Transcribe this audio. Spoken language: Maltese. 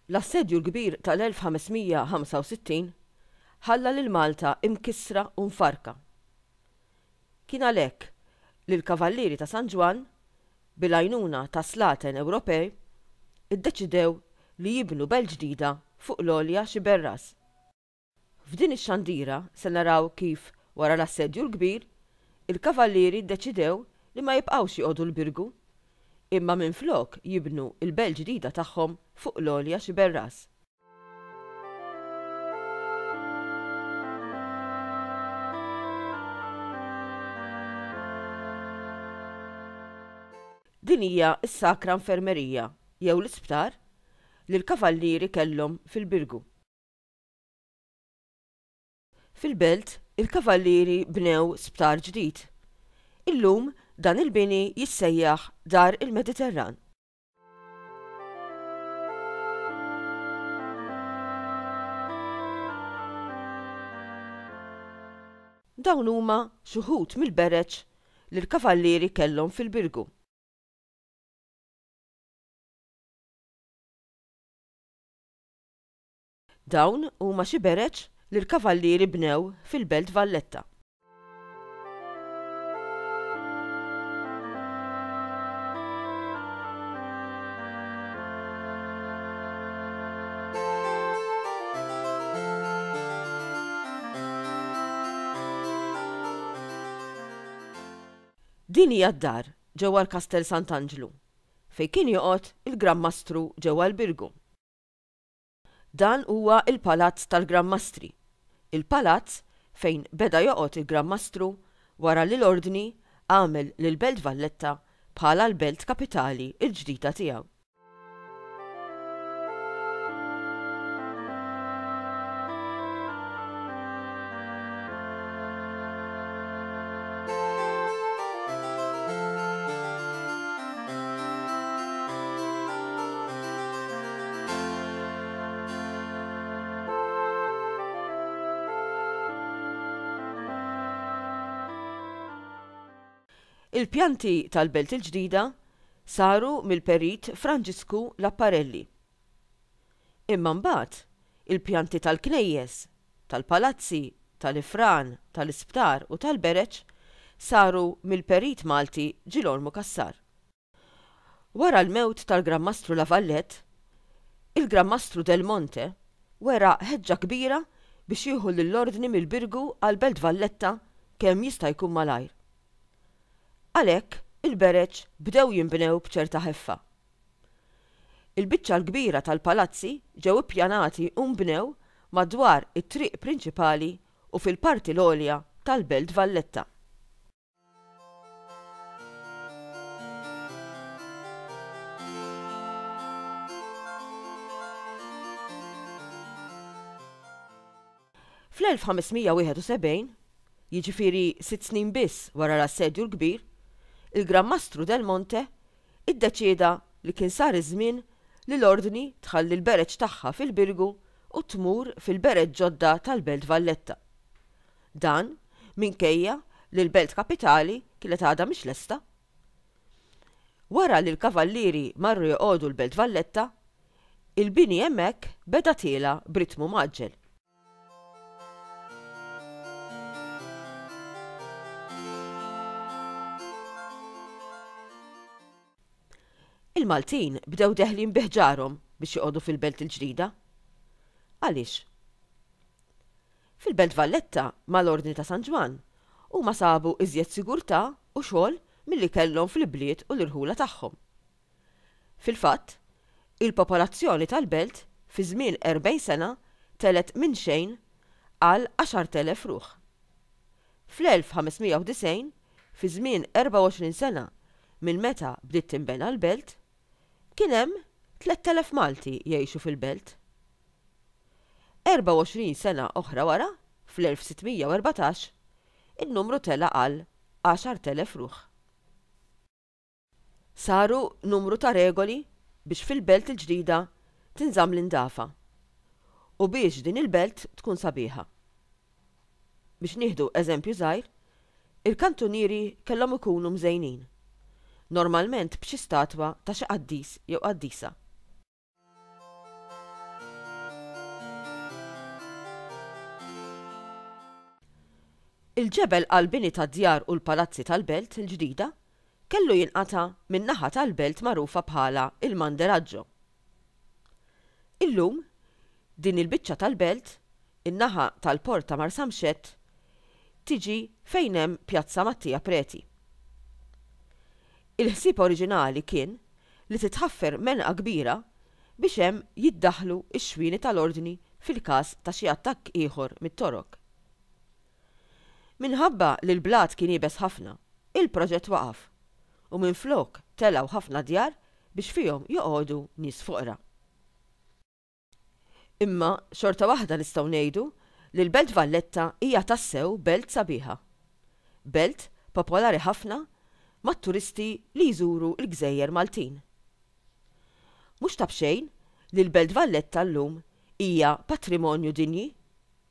L-Assedju l-Kbir tal-1565 ħalla lil Malta imkissra u mfarrka. Kien għalhekk li l-Kavallieri ta' San Ġwann, bil-għajnuna ta' slaten Ewropej, iddeċidew li jibnu belt ġdida fuq l-Għolja Xiberras. F'din ix-xandira se naraw kif, wara l-Assedju l-Kbir, il-Kavallieri ddeċidew li ma jibqgħux joqogħdu l-Birgu, imma minflok jibnu l-Belt Ġdida tagħhom fuq l-Għolja Xiberras. Din hija s-Sakra Infermerija, jew l-isptar, li l-Kavallieri kellhom fil-Birgu. Fil-Belt, il-Kavallieri bnew sptar ġdid. Illum, dan il-bini jissejjaħ Dar il-Mediterran. Dawn huma xi wħud mill-bereġ li l-Kavallieri kellhom fil-Birgu. Dawn huma xi bereġ li l-Kavallieri bnew fil-Belt Valletta. Din hija d-dar ġewwa l-Kastell Sant'Anġlu fejn kien joqgħod il-Gran Mastru ġewwa l-Birgu. Dan huwa l-palazz tal-Gran Mastri, il-palazz fejn beda joqgħod il-Gran Mastru wara li l-Ordni għamel lill-Belt Valletta bħala l-belt kapitali l-ġdida tiegħu. Il-pjanti tal-Belt il-Ġdida saru mill-Perit Franġisku Lapparelli. Imma mbagħad il-pjanti tal-knejjes, tal-palazzi, tal-ifran, tal-isptar u tal-bereġ saru mill-Perit Malti Ġilormu Cassar. Wara l-mewt tal-Gran Mastru La Valette, il-Gran Mastru Del Monte wera ħeġġa kbira biex jieħu lill-Ordni mill-Birgu għall-Belt Valletta kemm jista' jkun malajr. Għalhekk, il-bereġ bdew jinbnew b'ċerta ħeffa. Il-biċċa l-kbira tal-palazzi ġew ippjanati u nbnew madwar it-triq prinċipali u fil-parti l-għolja tal-Belt Valletta. Fl-1571, jiġifieri sitt snin biss wara l-Assedju l-Kbir, il-Gran Mastru del Monte iddeċieda li kien sar iż-żmien li l-Ordni tħalli l-bereġ tagħha fil-Birgu u tmur fil-bereġ ġodda tal-Belt Valletta. Dan minkejja li l-Belt Kapitali kienet għadha mhix lesta. Wara li l-Kavallieri marru joqogħdu l-Belt Valletta, il-bini hemmhekk beda tiela' b'ritmu mgħaġġel. Il-Maltin bdew deħlin bi ħġarhom biex joqogħdu fil-Belt il-Ġdida. Għaliex? Fil-Belt Valletta, mal-Ordni ta' San Ġwann, huma sabu iżjed sigurtà u xogħol milli kellhom fl-ibliet u l-irħula tagħhom. Fil-fatt, il-popolazzjoni tal-Belt fi żmien 40 sena telgħet minn xejn għal 10,000 ruħ. Fl-1590, fi żmien 24 sena minn meta bdiet tinbena l-Belt, kien hemm 3,000 Malti jgħixu fil-belt. 24 sena oħra wara, fl-1614, in-numru tela' għal 10,000 ruħ. Saru numru ta' regoli biex fil-belt il-ġdida tinżamm l-indafa u biex din il-belt tkun sabiħa. Biex nieħdu eżempju żgħir, il-kantunieri kellhom ikunu mżejnin, normalment b'xi statwa ta' xi qaddis jew qaddisa. Il-ġebel għall-bini tad-djar u l-palazzi tal-Belt il-Ġdida kellu jinqata' min-naħa tal-belt magħrufa bħala il-Manderaggio, Illum, din il-biċċa tal-belt, in-naħa tal-port ta' Marsamxett, tiġi fejn hemm Pjazza Mattia Preti. Il-ħsieb oriġinali kien li titħaffer menqa kbira biex hemm jiddaħħlu x-xwieni tal-Ordni fil-każ ta' xi attakk ieħor mit-Torok. Minħabba li l-blat kien iebes ħafna, il-proġett waqaf, u minflok telgħu ħafna djar biex fihom joqogħdu nies foqra. Imma xorta waħda nistgħu ngħidu li l-Belt Valletta hija tassew belt sabiħa. Belt popolari ħafna mat-turisti li jżuru l-gżejjer Maltin. Mhux ta' b'xejn li l-Belt Valletta llum hija patrimonju dinji